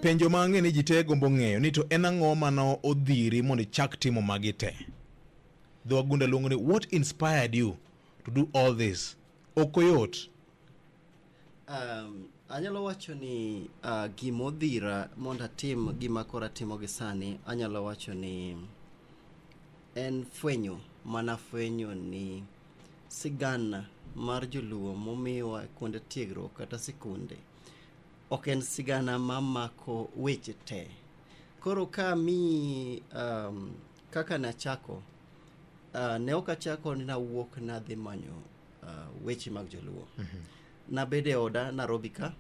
Penjo ma ang'e ni ji te gombo ng'eyo ni to en ang'o mane odhiri mondo ichak timo magi te? Dho wagunda luongo ni what inspired you to do all this? Ok oyot. Um, anyalo wacho ni uh, gima odhira mondo atim gima koro atimo gi sani anyalo wacho ni en fwenyo mana fwenyo ni sigana mar joluo momiwa kuonde tiegruok kata sikunde Ok en sigana ma mako weche te. Koro ka mi um, kaka nachako uh, ne ok achako ni nawuok nadhi manyo uh, weche mag joluo mm -hmm. nabed e oda narobi ka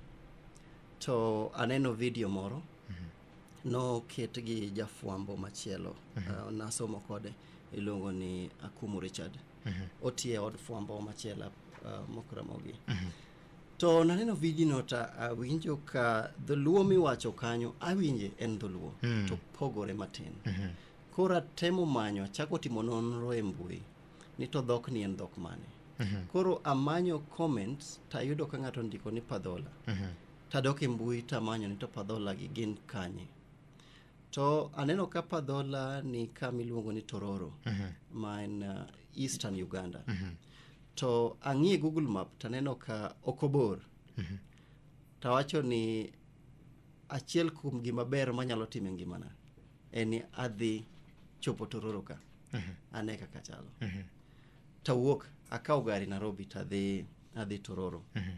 to aneno video moro mm -hmm. noket gi jafwambo machielo mm -hmm. uh, nasomo kode iluongo ni akumu richard mm -hmm. otiye od fwambo machielo uh, mokramogi mm -hmm. To naneno vidino to awinjo ka dholuo miwacho kanyo awinje en dholuo Mm. to pogore matin. Mhm. Koro atemo manyo achako timo nonro e mbui ni to dhokni en dhok mane. Mhm. Koro amanyo comments tayudo ka ng'ato ndiko ni padhola. Mhm. tadok e mbui tamanyo ni to padhola gi gin kanye to aneno ka padhola ni kama iluongo ni tororo Mhm. ma en uh, eastern uganda Mhm. to ang'iye google map taneno ka ok obor mm-hmm. tawacho ni achiel kuom gima ber manyalo time ngimana en ni adhi chopo tororo ka mm-hmm. ane kaka chalo mm-hmm. tawuok akawo gari nairobi tadhi adhi tororo mm-hmm.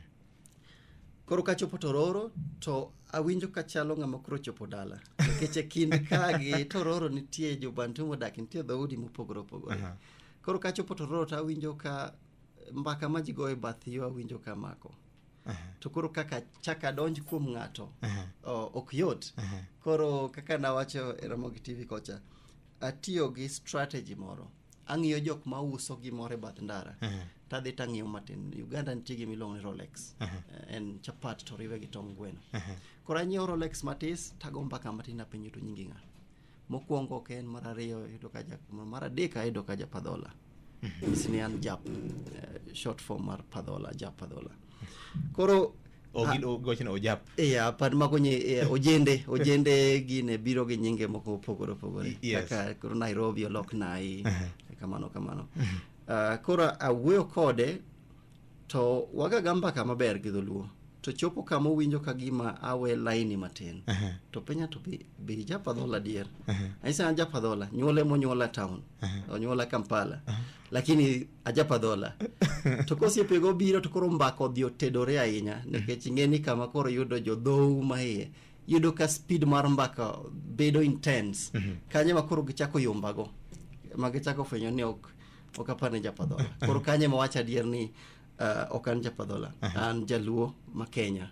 koro kachopo tororo to awinjo kachalo ng'ama koro chopo dala nikech e kind kagi tororo nitie jobantu modak nitie dhoudi mopogore opogore uh-huh. Koro kachopo to roro to awinjo ka mbaka ma ji goyo e bath yo awinjo ka mako. To koro kaka chaka donj kuom ng'ato o- ok yot. Koro kaka nawacho e Ramogi TV kocha, atiyo gi strategy moro. Ang'iyo jok ma uso gimoro e bath ndara. Tadhi tang'iyo matin. Uganda nitie gima iluongo ni Rolex. Eh, En chapat to riwe gi tong gweno. Koro anyiewo Rolex matis tago mbaka matin apenjo to nyingi ng'a. Mokwongo ok en, mar ariyo ayudo ka ja, mar adek ayudo ka ja Padhola. Nyis ni an jap, eh, short form mar Padhola, ja Padhola. Koro Ogin gochno ojap. Iya, pad mago nye eh, ojende, ojende gine biro gi nyinge moko opogore opogore. Y- yes. Kaka koro Nairobi olok Nai, kamano kamano. Ah, koro awuoyo kode to wagaga mbaka maber gi dholuo to chopo kama owinjo ka gima awe laini matin Aha. to penja to be, be japadhola adier Aha. anyisa an japadhola nyuole monyuola town onyuola kampala lakini ajapadhola to kosiepego biro to koro mbaka odhi otedore ahinya nikech ing'e ni kama koro yudo jodhou ma iye yudo ka speed mar mbaka bedo intense kanyo ma koro gichako yombago ma gichako fwenyo ni ok ok apar ni japadhola koro kanye ma wacho adier ni uh, ok an japadhola an jaluo ma kenya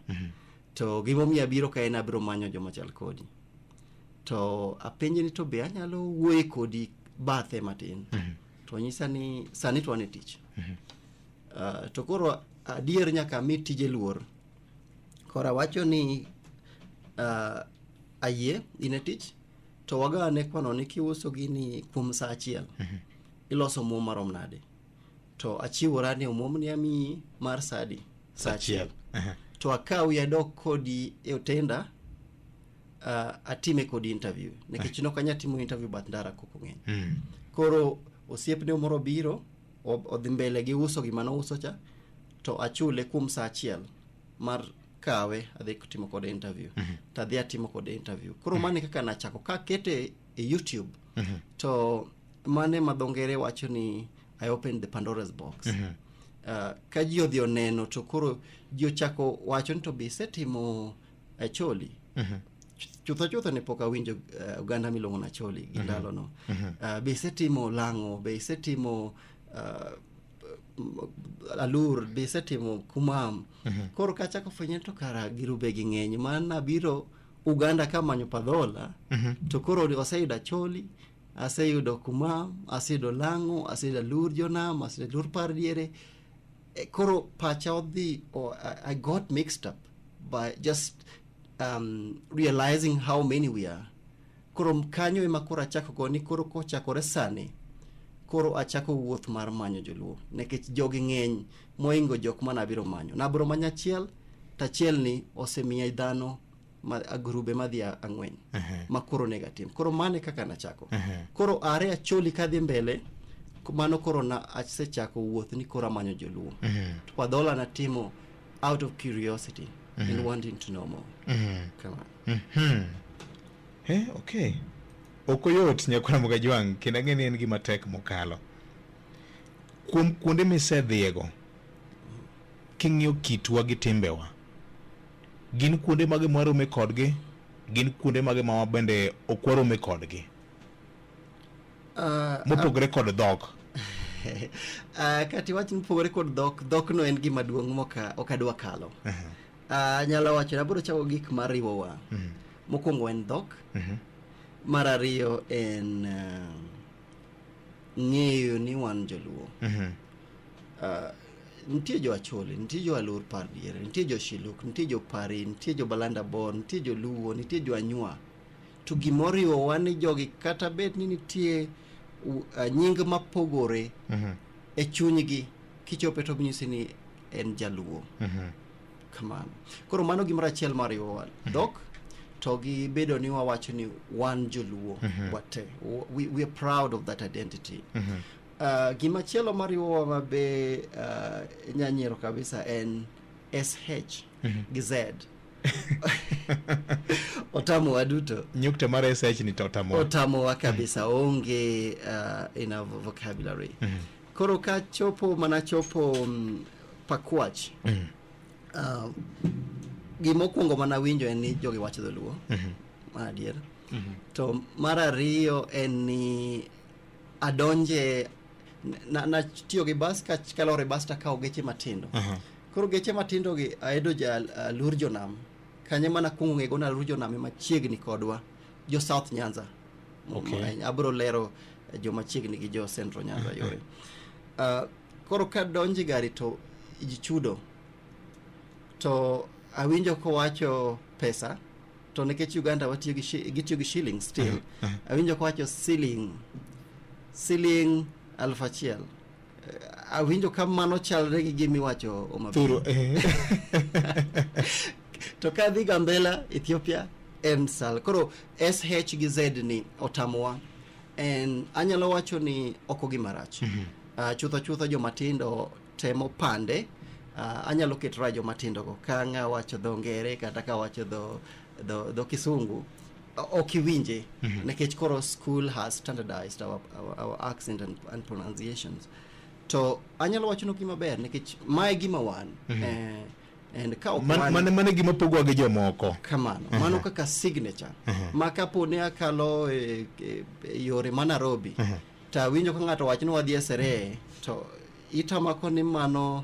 to gimomiyo abiro ka en abiro manyo joma chal kodi to apenje ni to be anyalo wuoye kodi bathe matin to nyisa ni sani to an e tich uh, to koro adier nyaka mi tije luor koro awacho ni uh, ayie in e tich to waga ne kwano ni kiuso gini kuom saa achiel mhm. iloso omuom marom nade to achiwora ni omuom ni amiyi mar sadi saa achiel mhm. to akawi adok kodi e otenda uh, atime kodi interview nikech mhm. nokanya timo interview but ndara koko ng'eny mm. koro osiepne moro biro odhi mbele gi uso gima nouso cha to achule kuom saa achiel mar kawe adhi timo kode interview mm -hmm. to adhi atimo kode interview koro mm -hmm. mane kaka nachako ka kete e youtube mm -hmm. to mane ma dhongere wacho ni i opened the pandora's box mm -hmm. uh, ka ji odhi oneno to koro ji ochako wacho ni to be isetimo acholi mm -hmm chutho chutho ne pok awinjo uh, oganda miluongo na choli gi mhm. ndalono mm -hmm. uh, be isetimo lang'o be isetimo uh, alur bisetimo kumam mhm. koro kachako fwenye to kara girube gi ng'eny ma nabiro uganda ka manyo padhola mhm. to koro oseyudo acholi aseyudo kumam aseyudo lang'o aseyudo alur jonam aseyudo alur par diere e, koro pacha odhi oh, i got mixed up by just um, realizing how many we are Koro kanyo ema koro achako go ni koro kochakore sani koro achako wuoth mar manyo joluo nikech jogi ng'eny moingo jok ma nabiro manyo nabiro manyo achiel tachiel ni osemiya dhano ma agrube madhi a- ang'wen Ehe. ma koro onego atim koro mane kaka nachako Ehe. koro are acholi kadhi mbele k- mano koro na asechako wuoth ni koro amanyo joluo Mhm. to padhola natimo out of curiosity and wanting to know more Mhm. Come on. Mhm. Eh, okay. Ok oyot nyakwar Mugaji wang' kendo ang'e ni en gima tek mokalo. Kuom kuonde misedhiyego, king'iyo kitwa gi timbewa, gin kuonde mage mwarome kodgi? Gin kuonde mage ma wabende ok warome kodgi? Ah, Mopogore kod dhok. ah, kati wach mopogore kod dhok, dhokno en gima duong' moka ok adwa kalo. Ah, anyalo wacho ni abiro chako gik mariwowa Mhm. mokwongo en dhok Mhm. mar ariyo en ah, ng'eyo ni wan joluo Mhm. Ah, nitie jo acholi nitie jo alor par diere nitie jo shiluk nitie jo pari nitie jo balanda bor nitie jo luo nitie jo anywa to gimoriwowa ni jogi kata bed ni nitie u- ah, nying mapogore Mhm. e chunygi kichope to nyisi ni en jaluo Mhm. kamano koro mano gimoro achiel mariwowa dhok to gi bedo ni wawacho ni wan joluo wate W- we, we are proud of that identity Mhm. uh, gima chielo mariwowa ma be uh, nyanyiero kabisa en sh gi z otamowa duto nyukta mar sh ni to otamo otamowa kabisa onge uh, in our vocabulary Koro ka chopo mana chopo mm, Pakwach mm. uh, gimokwongo mana winjo en ni jogi wacho dholuo mm -hmm. mar adier mm -hmm. to mar ariyo en ni adonje natiyo na gi bas kalor e bas takawo geche matindo uh -huh. koro geche matindo gi aedo ja uh, lur jonam kanye mana kuongo ng'ego na lur jonam emachiegni kodwa jo south nyanza Okay. Ahinya. abiro lero eh, joma chiegni gi jo central nyanza yore Ah, koro ka donji gari to ji chudo to awinjo kowacho pesa to nikech uganda watiyo gi shi- gitiyo gi shilling still awinjo kowacho siling siling aluf achiel Awinjo ka mano chalre gi gima iwacho Homa Bay. Thuro. eh. to ka dhi Gambela Ethiopia en sal koro SH gi Z ni otamowa en anyalo wacho ni oko gi marach Ah, chutho chutho joma tindo temo pande Ah, anyalo keto ra joma tindo go ka ng'a wacho dho ngere kata ka wacho dho dho, dho Kisungu okiwinje mm -hmm. nikech koro school has standardized our, our, our accent and, and pronunciations to anyalo wachonu gima ber nikech mae gima wan mm -hmm. eh, and ka ok man, man, mane gima pogowa gi jomoko kamano uh -huh. mano kaka signature uh -huh. ma kapo ne akalo e, e, e yore ma Nairobi uh -huh. to awinjo ka ng'ato wach ni wadhi e seree to itamako ni mano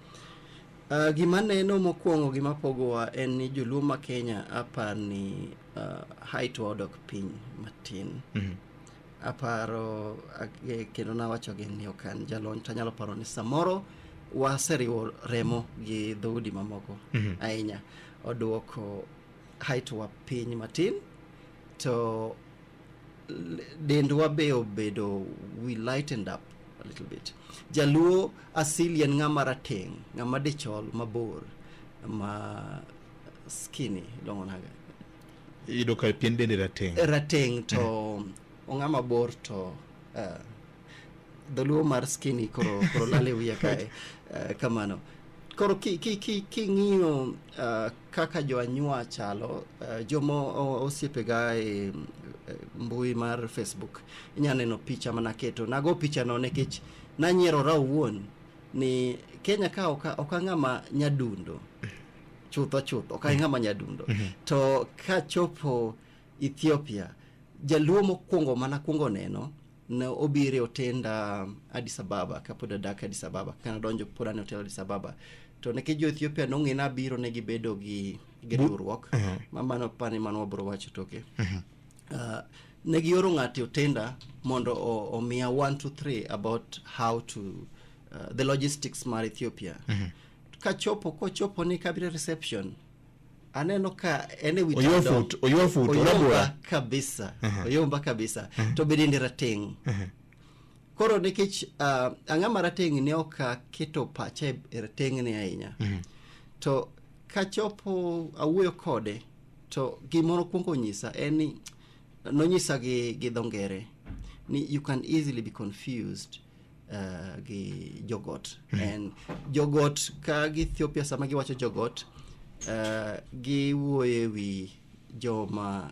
Uh, gima neno mokwongo gima pogowa en ni joluo ma kenya apar ni uh, height wa odok piny matin Mhm. aparo ag- kendo nawacho gi ni ok an jalony to anyalo paro ni samoro waseriwo remo gi dhoudi mamoko Mhm. ahinya oduoko height wa piny matin to dendwa be obedo we lightened up a little bit jaluo asili en ng'ama rateng' ng'ama dichol mabor ma skinny ilong'o naga iyudo ka pien dende rateng' rateng' to ong'ama bor to uh, Dholuo mar skinny koro koro lale wiya kae uh, kamano. Koro ki ki ki king'iyo uh, kaka jo anywa chalo uh, jomo o- osiepega e e, mbui mar Facebook inya neno picha mana keto. Nago picha no nikech nanyierora owuon ni Kenya ka oka okang'ama nyadundo chutho chutho ok ang'ama nyadundo to kachopo ethiopia jaluo mokwongo mana kwongo neno ne obiro e otenda Addis Ababa kapod adak Addis Ababa kana adonjo pod an e otel Addis Ababa to nikech jo Ethiopia nong'e ni abiro ne gibedo gi gi riwruok ma mano apani mano wabiro wacho toke uh, ne gioro ng'ato e otenda mondo o- omiya one two three about how to uh, the logistics mar Ethiopia kachopo kochopo ni kabiro e reception aneno ka en e wi Oyoo tado. fut, oyoo fut, Oyomba orabora. kabisa Aha. oyomba kabisa to be dende rateng' Aha. koro nikech uh, ang'a ma rateng' ne ok aketo pacha e e rateng'ni ahinya to kachopo awuoyo kode to gimoro kwongo onyisa en ni nonyisa gi, gi dho ngere ni you can easily be confused uh, gi jogot mm. and jogot ka gi Ethiopia sama giwacho jogot uh, giwuoye wi joma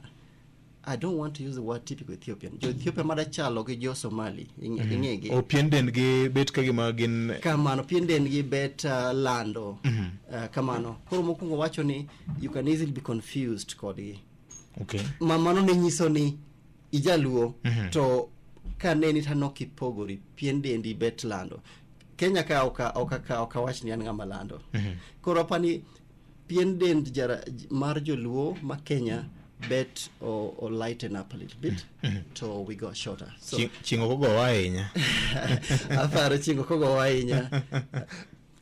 I don't want to use the word typical Ethiopian. Jo Ethiopia mada chalo gi jo Somali ing'egi. Mm -hmm. O oh, pien den gi bet ka gima gin kamano pien den gi bet uh, lando. Mm -hmm. uh, kamano. Koro mokwongo wacho ni you can easily be confused kodgi. Okay. Mamano ne nyiso ni ijaluo Mhm. to ka neni to anok ipogori pien dendi bet lando kenya ka oka oka ka oka wach ni an ng'ama lando Mhm. koro apani pien dend jara, j- mar joluo ma kenya bet o, o lighten up a little bit to we go shorter so Chi- chingo kogowa ahinya aparo chingo kogowa ahinya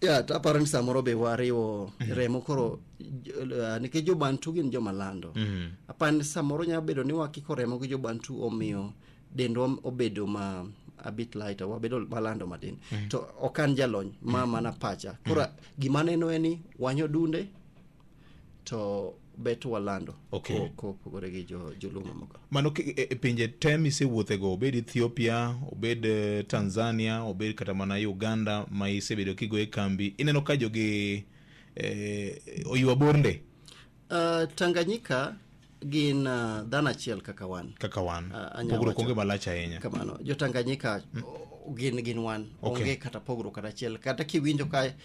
ya to aparo ni samoro be wariwo remo koro j- uh, nikech jobantu gin joma lando Mm. aparo ni samoro nyalo bedo ni wakiko remo gi jobantu omiyo dendwa obedo ma a bit lighter wabedo malando matin to ok an jalony ma mana pacha koro gima aneno en ni wanyo dunde to bet walando okay. kopogore gi jo, joluo mamoko mano e, e pinje te misewuothego obed ethiopia obed e, tanzania obed kata mana uganda ma isebedo kigo e kambi ineno ka jogi eh, oywa bornde uh, ah, tanganyika gin uh, dhano achiel kaka wan kaka wan uh, pogruok onge malach ahinya kamano jotanganyika mm. gin gin wan okay. onge kata pogruok kata achiel kata kiwinjo ka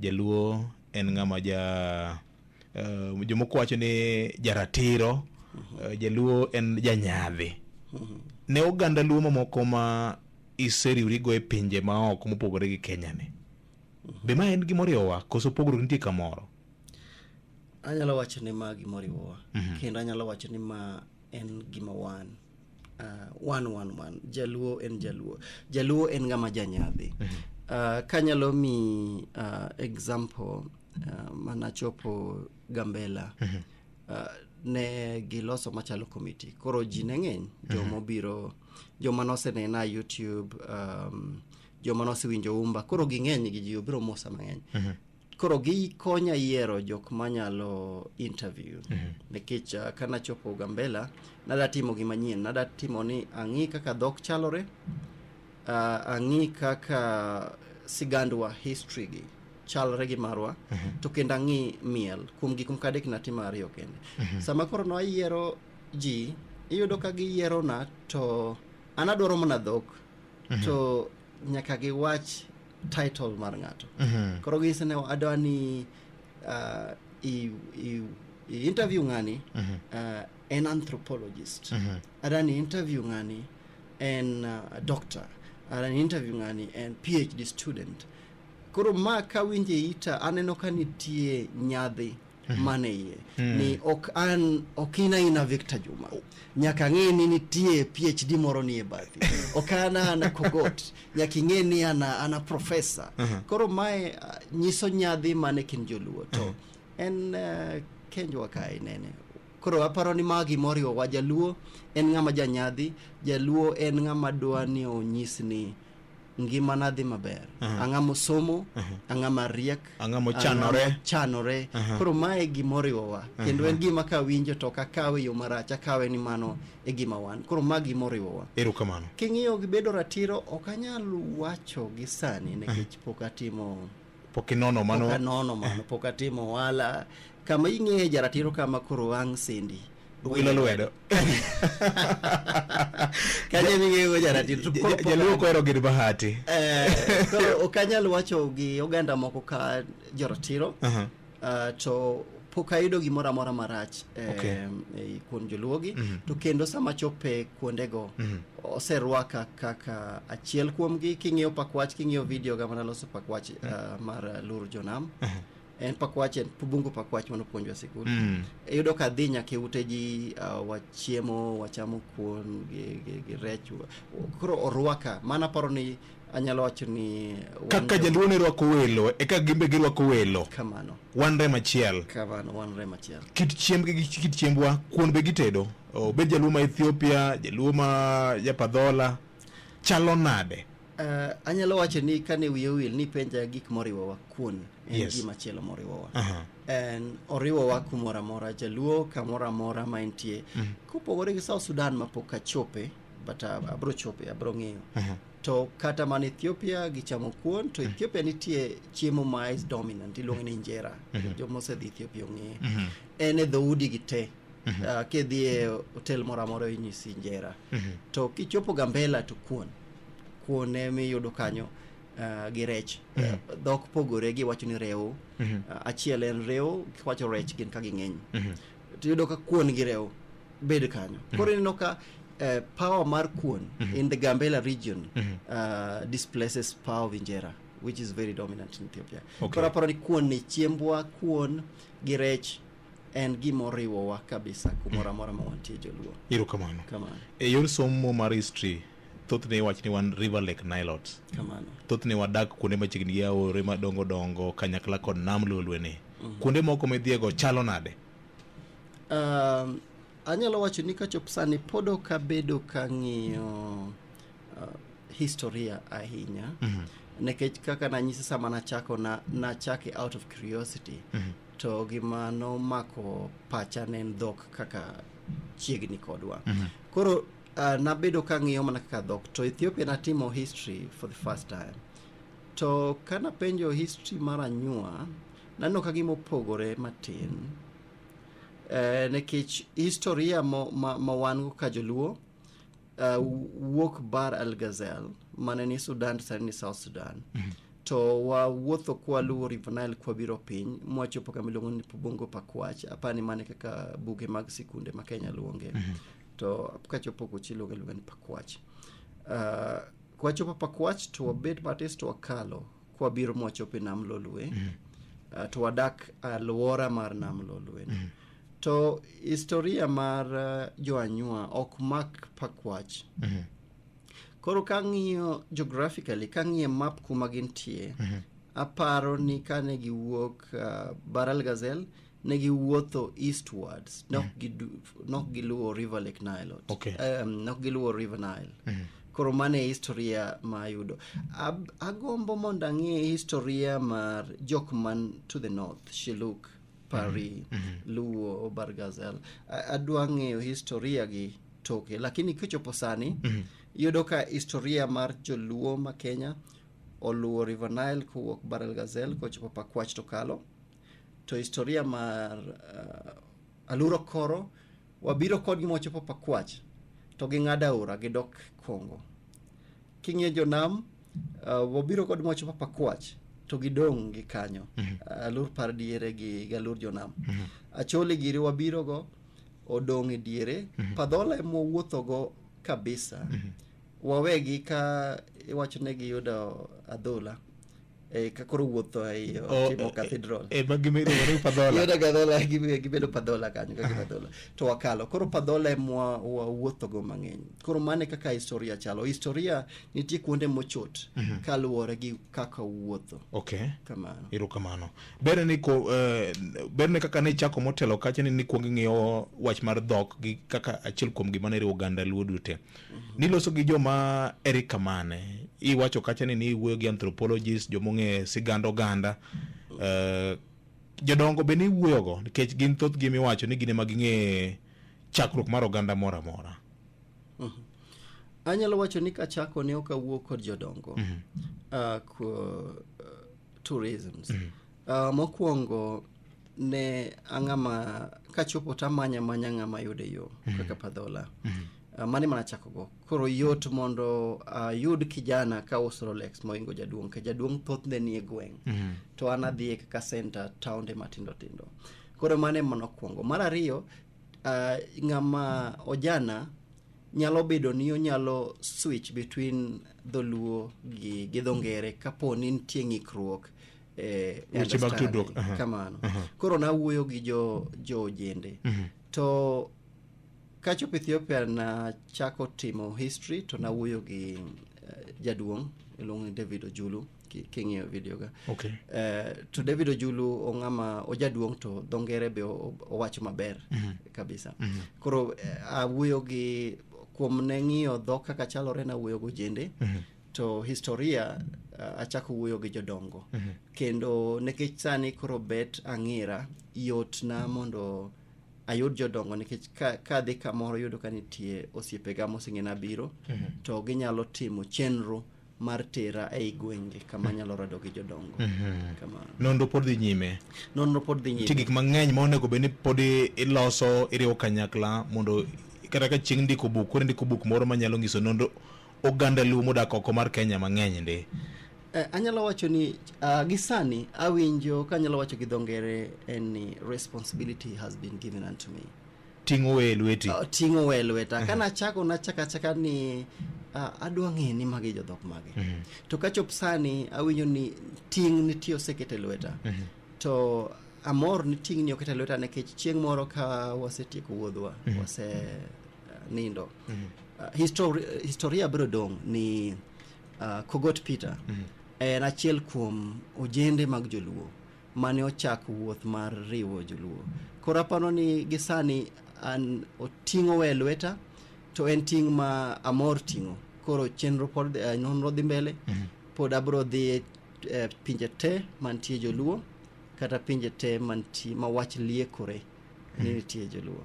Jaluo en ng'ama ja uh, jomoko wacho ni jaratiro uh, Jaluo en janyadhi ne oganda Luo mamoko ma iseriwrigo e pinje maoko mopogore gi Kenya ni be ma en gima oriwowa koso pogruok nitie kamoro anyalo wacho ni ma gima oriwowa kendo anyalo wacho ni ma en gima wan Uh, one, one, one. Jaluo en Jaluo. Jaluo en ng'ama janyadhi. Uh, kanyalo mi uh, example uh, manachopo Gambela. Uh, ne giloso machalo committee. Koro ji ne ng'eny joma obiro joma nosenena YouTube um, joma nosewinjo umba koro ging'eny gi ji obiro mosa mang'eny. koro gikonya yiero jok manyalo interview nikech uh, ka nachopo gambela nada timo gima nyien nada timo ni ang'i kaka dhok chalore uh, ang'i kaka sigandwa history gi chalre gi marwa to kendo ang'i miel kuom gik moko adek natimo ariyo kende sama koro nayiero ji iyudo ka giyierona to an adwaro mana dhok to nyaka giwach title mar ng'ato koro gise ne adwa ni uh, i, i, i interview ng'ani uh, en anthropologist adwa ni interview ng'ani en uh, doctor adwa ni interview ng'ani en phd student koro ma kawinje ita aneno ka nitie nyadhi man e iye ni ok an ok in aina Victor Juma nyaka ng'e ni nitie PhD moro ni e bathi ok an ana kogot nyaka ing'e ni ana ana professor koro mae ah, nyiso nyadhi mane kin joluo to en eh, kenjwa kae nene koro aparo ni ma gimoriwo wa jaluo en ng'ama janyadhi jaluo en ng'ama dwa ni onyis ni ngimana dhi maber Aha. ang'a mosomo Aha. ang'a mariek Ang'a mochanore. ang'a mochanore Aha. koro mae gimoriwowa kendo en gima kawinjo to ok akawe yo marach akawe ni mano e gima wan koro ma gimoriwowa ero kamano king'iyo gi bedo ratiro ok anyal wacho gi sani nikech pok atimo pok inono pok mano anono mano pok atimo ohala kama ing'eye jaratiro kama koro wang' sindi wilo lwedo kanye ming'eyego jaratiro to koro pok jaluo kohero gir bahati Eh, koro ok anyal wacho gi oganda moko ka joratiro Aha. uh, to pok ayudo gimoro amora marach eh, Okay. eh, kuom joluogi Mhm. to kendo sama chope kuondego Mhm. oserwaka kaka achiel kuomgi king'iyo pakwach king'iyo video ga manaloso pakwach uh, mar uh, lur jonam en pakwach en bungu pakwach manopuonjwa sikul Mm. iyudo ka dhi nyaka e ute ji uh, wachiemo wachamo kuon gi, gi, gi rech wa- koro orwaka mana paro ni anyalo wacho ni kaka jaluo ne rwako welo e kaka gimbe girwako welo kamano wan rem achiel kamano wan rem achiel kit chiembgi gi kit chiembwa kuon be gitedo obed jaluo ma ethiopia jaluo ma japadhola chalo nade Uh, anyalo wacho ni kane wiye wil ni penja gik moriwowa kuon en Yes. gima chielo moriwowa Aha. en oriwowa kumoro amora jaluo kamoro amora ma entie kopogore gi south sudan ma pok achope but uh, abro chope abro ng'eyo Aha. to kata man ethiopia gichamo kuon to ethiopia nitie chiemo ma is dominant iluonge ni injera joma osedhi ethiopia ong'eye Mhm. en e dhoudi gi te Ah, kidhi e hotel moro amora inyisi injera Mhm. to kichopo gambela to kuon kuon emiyudo kanyo ah, gi rech Mhm. dhok pogore giwacho ni rewo Mhm. Ah, achiel en rewo kiwacho rech gin ka ging'eny Mhm. tiyudo ka kuon gi rewo bed kanyo mm-hmm. koro ineno ka uh, power mar kuon mm -hmm. in the gambela region mm -hmm. uh, displaces power of injera which is very dominant in ethiopia okay. koro aparo ni kuon ni chiembwa kuon gi rech en gima oriwowa kabisa kumoro amora ma wantie joluo iro kamano kamano e yor somo mar history thothne iwach ni wan river lake nilot kamano thothne wadak kuonde machiegni gi aore madongo dongo kanyakla kod nam lolweni mm -hmm. kuonde moko midhiego chalo nade Um, anyalo wacho ni kachop sani pod ok abedo ka ng'iyo uh, historia ahinya mm -hmm. nekech kaka nanyisi sama nachako na, nachake out of curiosity mm -hmm. to gima nomako pacha ne en dhok kaka chiegni kodwa mm -hmm. koro uh, nabedo ka ng'iyo mana kaka dhok to ethiopia natimo history for the first time to kanapenjo history mar anyuwa Nano ka gima opogore matin eh, nikech historia ma, ma, ma wan go ka joluo uh, wuok bar al gazel mane ni sudan sani ni south sudan mm-hmm. to wawuotho kwaluwo river nile kwabiro piny mwachopo kama iluongo ni bongo pakwach apani mane kaka buge mag sikunde ma kenya luonge mm-hmm. to kachopo kuchi iluonge iluonga ni pakwach uh, kwachopo pakwach to wabet matis to wakalo kwabiro mwachopo e nam lolwe mm. uh, to wadak alwora mar nam lolwe mm. to historia mar uh, joanywa ok mak pakwach mm. koro kang'iyo geographically kang'iyo map kuma gintie mm -hmm. aparo ni kane giwuok uh, baral gazel ne giwuotho eastwards nok gidu- nok giluwo river lake nile Okay. um, nok giluwo river nile koro mano e historia ma ayudo Ab, agombo mondo ang'e historia mar jok man to the north shiluk pari luo bargazel A- adwa ng'eyo historia gi toke lakini kichopo sani yudo ka historia mar joluo ma kenya oluwo river nile kowuok barel gazel kochopo pakwach to kalo to historia mar uh, aluro koro wabiro kodgi mochopo pakwach to ging'ado aora gidok kongo king'iyo jonam uh, wabiro kod mochopo pakwach to gidong' gi kanyo mm -hmm. alur par diere gi galur jonam mm -hmm. achole giri wabirogo odong' e diere mm -hmm. padhola emowuothogo kabisa mm -hmm. wawegi ka iwacho ne giyudo adhola Eh, ka koro wuotho ei O- otimo e- cathedral e- ema gima iluongo ni padhola Yona gadhola gi- gibedo padhola kanyo kaka padhola to wakalo koro padhola emwa wawuothogo mang'eny koro mane kaka historia chalo historia nitie kuonde mochot kaluwore gi kaka wuotho okay kamano erokamano berne ni ko eh, berne kaka ne ichako motelo kacha ni nikwong ing'iyo wach mar dhok gi kaka achiel kuom gima ne riwo oganda luo duto te niloso gi joma eri kamane iwacho kacha ni niwuoyo gi anthropologist jomong'e sigand oganda uh, jodongo be niwuoyogo nikech gin thoth gi miwacho ni gine ma ging'e chakruok mar oganda moro amora uh mhm. -huh. anyalo wacho ni kachako ne ok awuo kod jodongo uh mhm. -huh. uh, ah, uh, tourisms uh mhm. -huh. Uh, mokwongo ne ang'ama kachopo to amanya manya ng'ama yude yo kaka padhola uh, mane mana chakogo koro yot mondo ayud uh, kijana ka uso rolex moingo jaduong' ka jaduong' thothne nie gweng' Mhm. to an adhiye kaka center taonde matindo tindo koro mane mana okwongo mar ariyo uh, ng'ama ojana nyalo bedo ni onyalo switch between dholuo gi, gi dho ngere kapo ni nitie ng'ikruok eh, Weche mag tudruok, understanding, aha. kamano koro nawuoyo gi jo jo ojende to kachop ethiopia nachako timo history to nawuoyo gi eh, jaduong' iluongo ni david ojulu ki- king'iyo videoga Okay. Eh, to david ojulu ong'ama ojaduong' to dho ngere be o- owacho maber kabisa koro eh, awuoyo gi kuom ne ng'iyo dhok kaka chalore nawuoyo gi ojende to historia uh, achako wuoyo gi jodongo mm -hmm. kendo nikech sani koro bet ang'ira yotna mondo ayud jodongo nikech ka, ka adhi kamoro yudo ka nitie osiepega moseng'ena biro mm -hmm. to ginyalo timo chenro mar tera ei gwenge kama mhm. nyalo rado gi jodongo mm -hmm. kama nonro pod dhi nyime nonro pod dhi nyime nitie gik mang'eny ma onego bed ni pod iloso iriwo kanyakla mondo kata ka chieng' ndiko buk koro ndiko buk moro manyalo nyiso nonro oganda luo modak oko mar kenya mang'eny ndi Eh, anyalo wacho ni uh, gi sani awinjo ka anyalo wacho gi dho ngere en ni responsibility has been given unto me ting' owe e lweti uh, ting' owe e lweta ka nachako nachako achaka ni uh, adwa ng'e ni magi jodhok mage mm -hmm. to kachop sani awinjo ni ting' nitie oseket e lweta mm -hmm. to amor ni ting' ni oket e lweta nikech chieng' moro ka wasetieko wuodhwa mm -hmm. wase uh, nindo Uh, histori historia biro dong' ni uh, Kogot Peter en achiel kuom ojende mag joluo mane ochako wuoth mar riwo joluo. Koro aparo ni gisani an oting'o we lweta to en ting' ma amor ting'o. Koro chenro pod uh, nonro dhi mbele pod abiro dhi eh, pinje te mantie joluo kata pinje te mantie ma wach liekore ni nitie joluo.